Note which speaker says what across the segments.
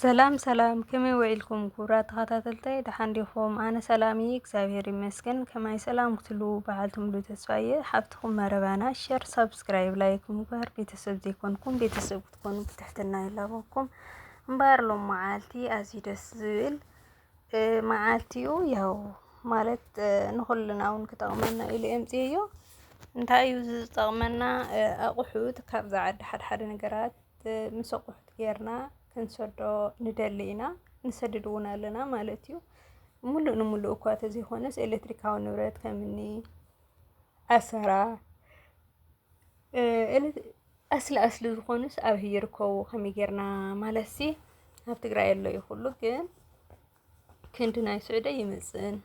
Speaker 1: ሰላም ሰላም ከመይ ዊዒልኩም ክቡራት ተኸታተልተይ ደሓን ዲኹም? ኣነ ሰላም እየ እግዚኣብሔር ይመስገን። ከማይ ሰላም ክትሉ በዓልቲ ሙሉ ተስፋ እየ ሓፍትኹም መረባና ሸር ሳብስክራይብ ላይክ ምግባር ቤተሰብ ዘይኮንኩም ቤተሰብ ክትኮኑ ብትሕትና ይላበኩም። እምበኣር ሎም መዓልቲ ኣዝዩ ደስ ዝብል መዓልቲ እዩ። ያው ማለት ንኹልና እውን ክጠቕመና ኢሉ የምፅእዮ። እንታይ እዩ ዝጠቕመና ኣቑሑት ካብዛ ዓዲ ሓድሓደ ነገራት ምስ ኣቑሑት ጌርና ክንሰዶ ንደሊ ኢና፣ ንሰድድ እውን ኣለና ማለት እዩ። ሙሉእ ንሙሉእ እኳ ተዘይኮነስ ኤሌክትሪካዊ ንብረት ከምኒ ዓሰራ ኣስሊ ኣስሊ ዝኾኑስ ኣብይ ይርከቡ ከመይ ጌርና ማለትሲ ኣብ ትግራይ ኣሎ እዩ ኩሉ ግን ክንዲ ናይ ስዑዲ ኣይምጽእን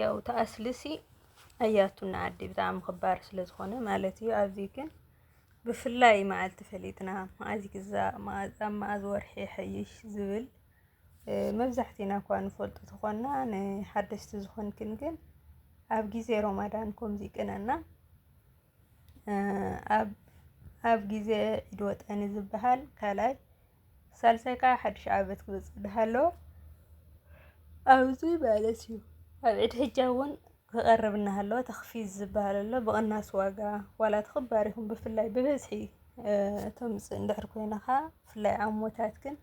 Speaker 1: ያው ተኣስልሲ ኣያቱና ዓዲ ብጣዕሚ ክባር ስለ ዝኾነ ማለት እዩ ኣብዚ ግን ብፍላይ መዓልቲ ፈሊጥና መዓዝ ይግዛእ መዓዝ ኣብ መዓዝ ወርሒ ይሐይሽ ዝብል እ፣ መብዛሕትና እኳ ንፈልጦ ተኾና ንሓደስቲ ዝኾንክን ግን ኣብ ግዜ ሮማዳን ከምዚ ይቅነና እ፣ ኣብ ኣብ ግዜ ዒድ ወጠኒ ዝበሃል ካልኣይ ሳልሳይ ከዓ ሓድሽ ዓመት ክመፅእ እናሃለወ ኣብዚ ማለት እዩ ኣብ ዒድ ሕጃ እውን ክቐርብ እናሃለወ ተኽፊዝ ዝበሃል ኣሎ ብቕናስ ዋጋ ዋላ ተኽባር ይኹን ብፍላይ ብብዝሒ ተምፅእ እንድሕር ኮይንኻ ብፍላይ ዓሞታት ግን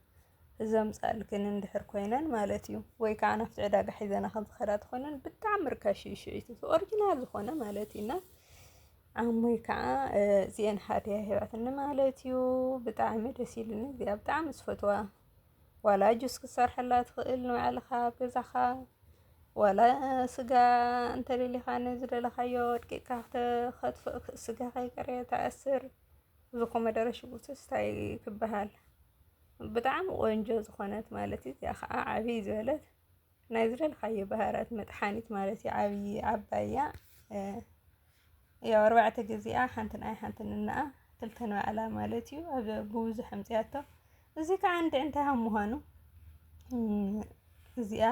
Speaker 1: ዘምፃልክን እንድሕር ኮይነን ማለት እዩ ወይ ከዓ ናብቲ ዕዳጋ ሒዘና ከም ዝኸዳ ትኾነን ብጣዕሚ ርካሽ እዩ ሽዒቱ ኦሪጂናል ዝኾነ ማለት እዩና ዓሙይ ከዓ እዚኤን ሃድያ ሂባትኒ ማለት እዩ። ብጣዕሚ ደስ ኢሉኒ እዚኣ ብጣዕሚ ዝፈትዋ ዋላ ጁስ ክትሰርሐላ ትኽእል ንባዕልኻ ኣብ ገዛኻ ዋላ ስጋ እንተደሊኻ ንዝደለኻዮ ወድቂካ ክትኸትፍእ ስጋ ከይቀረ ተኣስር ዝኮመደረ ሽጉርቲ ስታይ ክበሃል ብጣዕሚ ቆንጆ ዝኾነት ማለት እዩ። እዚኣ ከዓ ዓብይ ዝበለት ናይ ዝደልኻዮ ባህራት መጥሓኒት ማለት እዩ ዓብዪ ዓባይ እያ ያው ኣርባዕተ ግዜኣ ሓንቲ ንኣይ ሓንቲ ንነኣ ክልተ ንባዕላ ማለት እዩ ኣብ ብብዙሕ ኣምፅያቶ እዚ ከዓ እንዲ እንታይ ከም ምዃኑ እዚኣ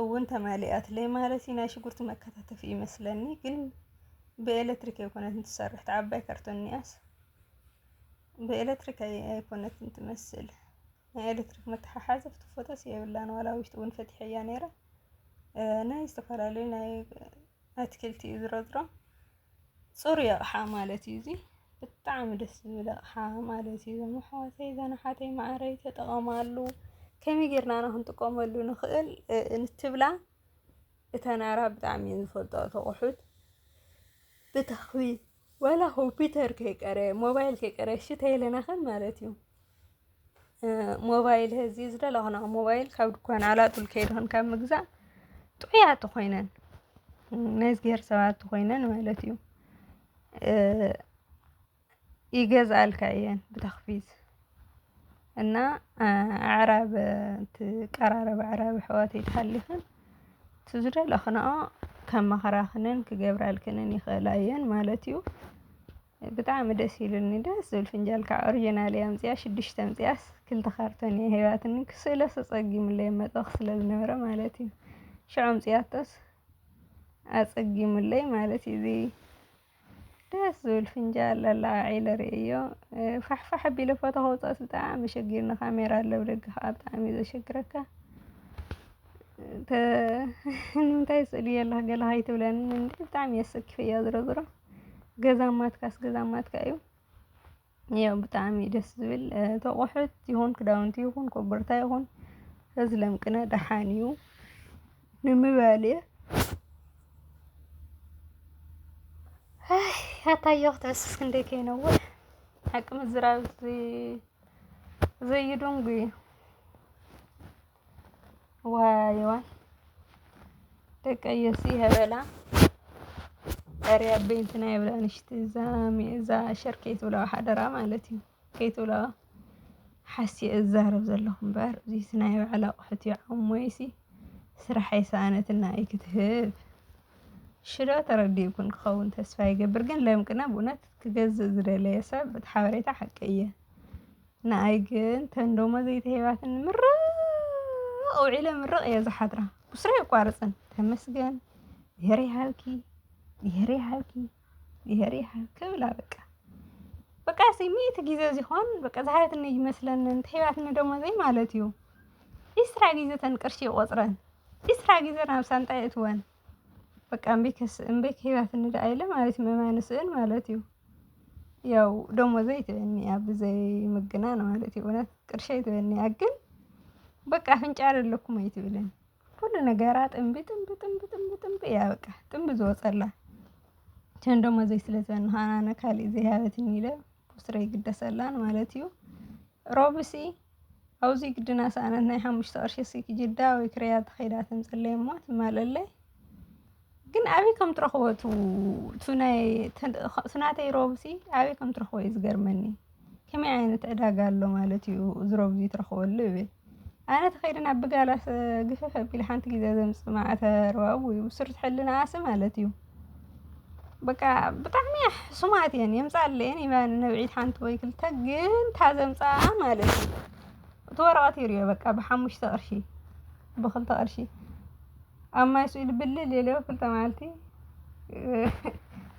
Speaker 1: እውን ተማሊኣትለይ ማለት እዩ ናይ ሽጉርቲ መከታተፊ ይመስለኒ ግን ብኤሌክትሪክ ኣይኮነትን ትሰርሕ ተዓባይ ካርቶን እኒኣስ ብኤሌክትሪክ ኣይኮነትን ትመስል ናይ ኤሌክትሪክ መተሓሓዚ ክትፈጦስ የብላን ዋላ ውሽጢ እውን ፈቲሐያ ነይረ ናይ ዝተፈላለዩ ናይ ኣትክልቲ እዩ ዝረዝሮ ፅሩይ ኣቕሓ ማለት እዩ እዚ ብጣዕሚ ደስ ዝብል ኣቕሓ ማለት እዩ እዞም ኣሕዋተይ እዘን ኣሓተይ ማዕረይ ተጠቐማሉ ከመይ ጌርና ና ክንጥቀመሉ ንኽእል እንትብላ እተን ኣራ ብጣዕሚ እየን ዝፈልጦ ተቑሑት ብተኽቢ ዋላ ኮምፒተር ከይቀረ ሞባይል ከይቀረ እሺ ተይለና ከን ማለት እዩ ሞባይል ህዚ ዝደለኹና ሞባይል ካብ ድኳን ኣላጡል ከይድኹን ካብ ምግዛእ ጥዑያት ኮይነን ናይ እግዚኣብሔር ሰባት ኮይነን ማለት እዩ ይገዝኣልካ እየን ብተኽፊት እና ኣዕራብ ትቀራረብ ኣዕራብ ኣሕዋተይ ተሃሊኽን እቲ ዝደለኽንኦ ከማኽራኽንን ክገብራልክንን ይኽእላ እየን ማለት እዩ። ብጣዕሚ ደስ ኢሉኒ ደስ ዝብል ፍንጃል ከዓ ኦሪጅናል እየ ኣምፂኣ ሽዱሽተ ኣምፂኣስ ክልተ ካርቶን እየ ሂባትኒ ክስእሎስ ኣፀጊሙለይ ኣብ መድረኽ ስለ ዝነበረ ማለት እዩ። ሽዑ ኣምፂኣቶስ ኣፀጊሙለይ ማለት እዩ። እዚ ደስ ዝብል ፍንጃል ኣላዓዒለ ርእዮ ፋሕፋሕ ኣቢለ ፎቶ ከውፅኦስ ብጣዕሚ ሸጊርኒ ካሜራ ኣሎ ብደገ ከዓ ብጣዕሚ እዩ ዘሸግረካ ንምንታይ ስእሊ የለህ ገለ ከይትብለኒ እንዲ ብጣዕሚ እየ ሰኪፈያ ዝሮ ዝሮ ገዛ ማትካስ ገዛ ማትካ እዩ ያው ብጣዕሚ እዩ ደስ ዝብል እ፣ እቲ ኣቑሑት ይኹን ክዳውንቲ ይኹን ኮቦርታ ይኹን ፈዝለም ቅነ ደሓን እዩ ንምባል እየ ኣይ፣ ኣታዮ ክትዕስስ ክንደይ ከይነውሕ ሓቂ ምዝራብ ዘይ- ዘዩድንጉ እዩ ዋይዋይ ደቀይሲ ሀበላ ኧረ ኣቦይ እንትና የብላ ንሽቲ እዛ እዛ ሸር ከይትብለዋ ሓደራ ማለት እዩ ከይትብለዋ ሓሲየ እዛረብ ዘለኹ እምበር እዚስ ናይ ባዕላ ኣቑሑት እዩ ዓሞይሲ ስራሕ የሰኣነትና እዩ ክትህብ ሽዶ ተረዲኡኩም ክኸውን ተስፋ ይገብር ግን ለምቅና ብእውነት ክገዝእ ዝደለየ ሰብ እቲ ሓበሬታ ሓቂ እየ ንኣይ ግን ተን ደሞዝ ዘይተሂባትኒ ምርቕ ውዒለ ምርቕ እየ ዝሓድራ ብስራ የቋርፅን ተመስገን ብሄር ይሃብኪ ብሄር ይሃብኪ ብሄር ይሃብኪ ብላ በቃ በቃ ሲ ሚእቲ ግዜ ዚኾን በቃ ዝሃበትኒ ይመስለኒ እንተሂባትኒ ደሞዘይ ማለት እዩ ዒስራ ግዜ ተን ቅርሺ ይቖፅረን ዒስራ ግዜ ናብ ሳንጣይ የእትወን በቃ እምቢ ከስ እምቢ ከይባት እንደ ኣይለ ማለት እዩ መማን ስእን ማለት እዩ ያው ደሞ ዘይት በኒ ኣብ ዘይ ምግናን ማለት እዩ እውነት ቅርሻ ይትበኒ ግን በቃ አፍንጫ አይደለኩም ወይ ትብለን ሁሉ ነገራ ጥንቢ ጥንቢ ጥንቢ ጥንቢ ጥንቢ ያ በቃ ጥንቢ ዝወጸላ ቸን ደሞ ዘይ ስለዘን ሃና ነካሊ ዘይ ሃበትን ይለ ቡስረይ ግደሰላን ማለት እዩ ሮብሲ ኣውዚ ግድና ሰኣነት ናይ ሓሙሽተ ቅርሺ ሲ ክጅዳ ወይ ክረያ ተኸይዳ ትምፅለይ እሞ ትማለለይ ግን ኣበይ ከም ትረኽቦ ትናተይ ሮብሲ ኣበይ ከም ትረኽቦ እዩ ዝገርመኒ ከመይ ዓይነት ዕዳጋ ኣሎ ማለት እዩ እዚ ሮብ እዚ ትረኽበሉ ይብል ኣነ ተኸይደ ናብ ብጋላስ ግፍፍ ኣቢለ ሓንቲ ግዜ ዘምፅ ማዕተር ዋው ብሱር ትሕልና ኣሲ ማለት እዩ በቃ ብጣዕሚ እያ ሕሱማት እየን የምፅኣለየን ይበል ንብዒት ሓንቲ ወይ ክልተ ግን እንታ ዘምፅኣ ማለት እዩ እቲ ወረቐት ይርእዮ በቃ ብሓሙሽተ ቅርሺ ብክልተ ቅርሺ ኣብ ማይ ስኢሉ ብልል የለ ክልተ መዓልቲ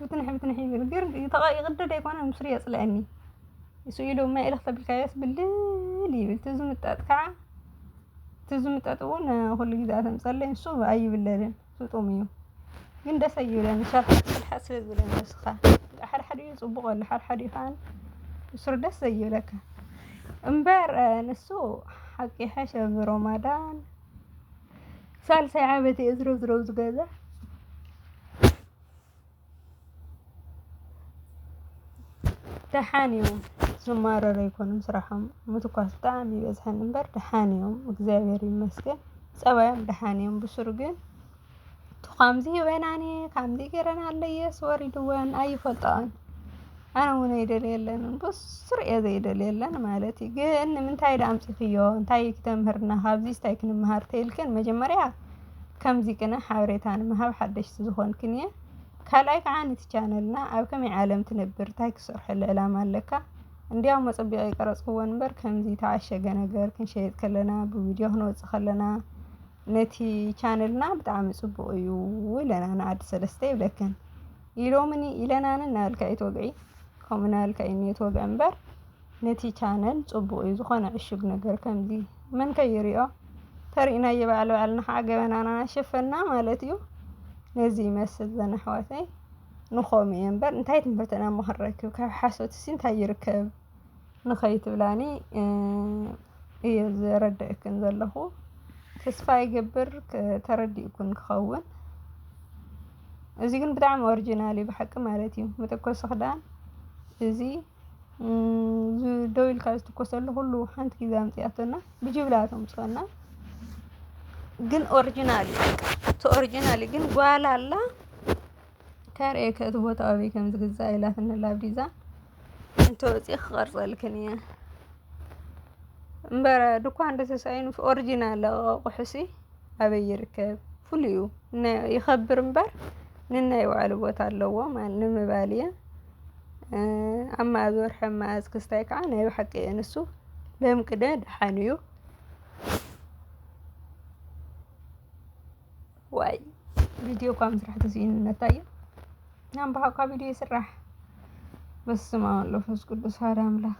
Speaker 1: ብትንሒ ብትንሒ ይብል ግን ይቕደድ ኣይኮነን ምስኡ የፅልኣኒ ስኢሉ ማይ እልኽ ተብልካዮስ ብልል ይብል እቲ ዝምጠጥ ከዓ እቲ ዝምጠጥ እውን ኩሉ ግዜ ኣተምፅኣለይ ንሱ ኣይብለልን ስጡም እዩ ግን ደሰ ኣይብለን ንሳ ክትሓት ስለ ዝበለ ንስኻ ሓድሓዲኡ ጽቡቕ ኣሎ ሓድሓዲኡ ከኣ ንሱር ደስ ዘይብለካ እምበር ንሱ ሓቂ ይሓሽ ኣብ ሮማዳን ሳልሳይ ዓመት እየ ዝረዝረው ዝገዛ ደሓን እዮም ዝማረሩ ኣይኮኑን ስራሖም ምትኳስ ብጣዕሚ ይበዝሓኒ እምበር ደሓን እዮም እግዚኣብሔር ይመስገን ፀባዮም ደሓን እዮም ብሱሩ ግን ከምዚ በናኒ ከምዚ ገይረን ኣለየስ ወሪድወን ኣይፈልጣን ኣነ እውን ኣይደልየለን ብሱሩ እየ ዘይደልየለን ማለት እዩ ግን ንምንታይ ድኣ ኣምፂኽዮ እንታይ እዩ ተምህርና ካብዚስ እንታይ ክንምሃር ተይልክን መጀመርያ ከምዚ ቅነ ሓበሬታ ንምሃብ ሓደሽቲ ዝኾንክን እየ ካልኣይ ከዓ ነቲ ቻነልና ኣብ ከመይ ዓለም ትነብር እንታይ ክሰርሐሉ ዕላማ ኣለካ እንዲያው መጸቢቀ ይቀረጽክዎ እንበር ከምዚ ተዓሸገ ነገር ክንሸይጥ ከለና ብቪድዮ ክንወጽእ ከለና ነቲ ቻነልና ብጣዕሚ ጽቡቅ እዩ ኢለና ንዓዲ ሰለስተ ይብለክን ኢሎምኒ ኢለናን እናበልካ እዩ ትወግዒ ከምኡ እናበልካ እዩ እኒኦ ትወግዒ እምበር ነቲ ቻነል ጽቡቅ ዩ ዝኮነ ዕሹግ ነገር ከምዚ መን ከ ይሪኦ ተሪኢናዮ ባዕል ባዕልና ከዓ ገበናና ናሸፈና ማለት ዩ ነዚ ይመስል ዘን ኣሕዋተይ ንኮም እየ እምበር እንታይ ትምህርቲ ኢና እሞ ክንረክብ ካብ ሓሶት ሲ እንታይ ይርከብ ንከይትብላኒ እየ ዘረደእክን ዘለኩ ተስፋ ይገብር ተረዲእኩን ክከውን እዚ ግን ብጣዕሚ ኦርጅናል እዩ ብሓቂ ማለት እዩ መተኮሲ ክዳን እዚ ደው ኢልካ ዝትኮሰሉ ኩሉ ሓንቲ ግዜ ኣምጺኣቶና ብጅምላ እዮም ዘምጽኡልና ግን ኦርጅናል እዩ እቲ ኦርጅናል እዩ ግን ጓል ኣላ ከርእየኪ እቲ ቦታ ኣበይ ከም ዝግዛእ ኢላትኒ ኣላ ብ ዲዛን እንተወጺኡ ክቀርጸልክን እየ እምበረ ድኳን እንተተሳኢኑ ኦርጅናል ኣቁሑሲ ኣበይ ይርከብ ፍሉይ እዩ ይኸብር እምበር ንናይ ባዕሉ ቦታ ኣለዎ ማለት ንምባል እየ። ኣብ መኣዝ ወርሒ ኣብ መኣዝ ክስታይ ከዓ ናይ ብሓቂ እየ ንሱ ለም ቅደ ደሓን እዩ ዋይ ቪድዮ እኳ ምስራሕ ተስኢኑ ነታየ ናም በሓ እኳ ቪድዮ ይስራሕ በስመ አብ ወወልድ ወመንፈስ ቅዱስ ሓደ ኣምላክ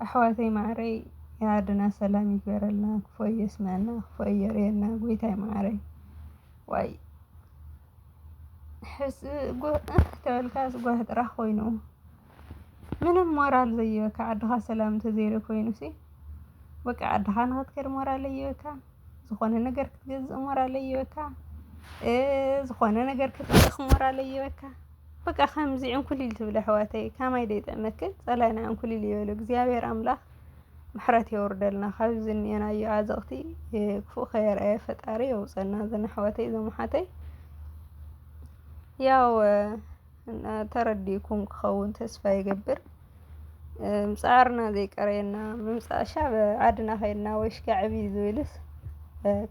Speaker 1: ኣሕዋተይ ማዕረይ የኣድና ሰላም ይግበረልና ክፎ የስመዐና ክፎ የርእየና ጎይታይ ማዕረይ ዋይ ሕስ ጎህ እህ ተበልካስ ጓሂ ጥራሕ ኮይኑ ምንም ሞራል ዘይበካ ዓድኻ ሰላም እንተዘይሩ ኮይኑሲ በቃ ዓድኻ ንኽትከድ ሞራል ዘይበካ ዝኾነ ነገር ክትገዝእ ሞራል ዘይበካ ዝኾነ ነገር ክትልእኽ ሞራል ዘይበካ በቃ ከምዚ ዕንኩሊል ትብል ኣሕዋተይ ከማይ ደይጥዕመክን ጸላኢና ዕንኩሊል ይበሎ እግዚኣብሔር ኣምላኽ። ምሕረት የውርደልና ካብ ዝኒኤናዮ ዓዘቕቲ ክፉእ ከየርኣየ ፈጣሪ የውፀና እዘን ኣሕዋተይ እዞም ኣሓተይ ያው ተረዲእኩም ክኸውን ተስፋ ይገብር ምፅዓርና ዘይቀረየና ምምፃእ ሻብ ዓድና ከይድና ወይ ሽካ ዕብይ ዝብልስ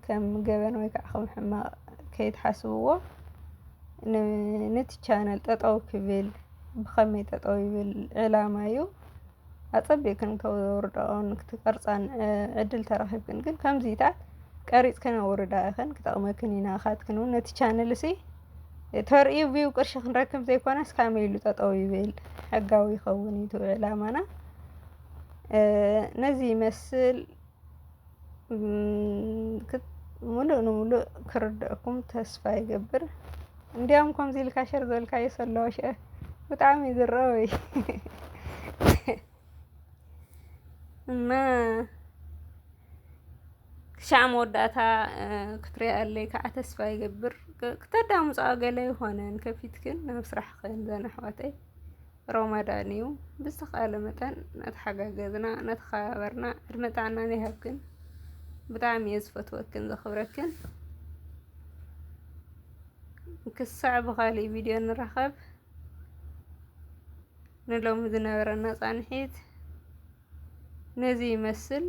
Speaker 1: ከም ገበን ወይ ከዓ ከም ሕማቕ ከይትሓስብዎ ነቲ ቻነል ጠጠው ክብል ብኸመይ ጠጠው ይብል ዕላማ እዩ ኣጸቢቕክን ከውርድኦን ክትቀርጻን ዕድል ተረኺብክን ግን ከምዚታት ቀሪጽክን ኣውርዳ ኢኽን ክጠቕመክን ኢና ካትክን እውን ነቲ ቻነልሲ ተርእዩ ቪው ቅርሺ ክንረክብ ዘይኮነስ ካመይ ኢሉ ጠጠው ይብል ሕጋዊ ይኸውን እዩ ትውዕ ዕላማና ነዚ ይመስል ሙሉእ ንሙሉእ ክርደኣኩም ተስፋ ይገብር። እንዲያውም ከምዚ ኢልካ ሸር ዝበልካዮ ሰለዋ ሸ ብጣዕሚ እዩ ዝረበይ እና ክሻዕ መወዳእታ ክትሪኣለይ ከዓ ተስፋ ይገብር። ክተዳምፃኦ ገለ ይኾነን ከፊትክን ናብ ስራሕኽን ዘን ኣሕዋተይ ሮማዳን እዩ ብዝተኸኣለ መጠን እናተሓጋገዝና እናተኸባበርና ዕድመ ጥዕናን ይሃብክን ብጣዕሚ እየ ዝፈትወክን ዘኽብረክን ክሳዕ ብኻሊእ ቪድዮ ንራኸብ ንሎሚ ዝነበረና ፃንሒት ነዚ ይመስል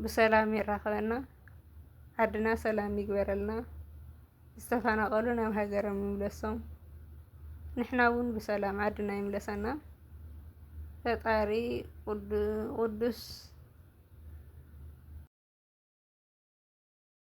Speaker 1: ብሰላም የራኽበና ዓድና ሰላም ይግበረልና ዝተፈናቀሉ ናብ ሃገሮም ይምለሶም ንሕና ውን ብሰላም ዓድና ይምለሰና ፈጣሪ ቁዱስ።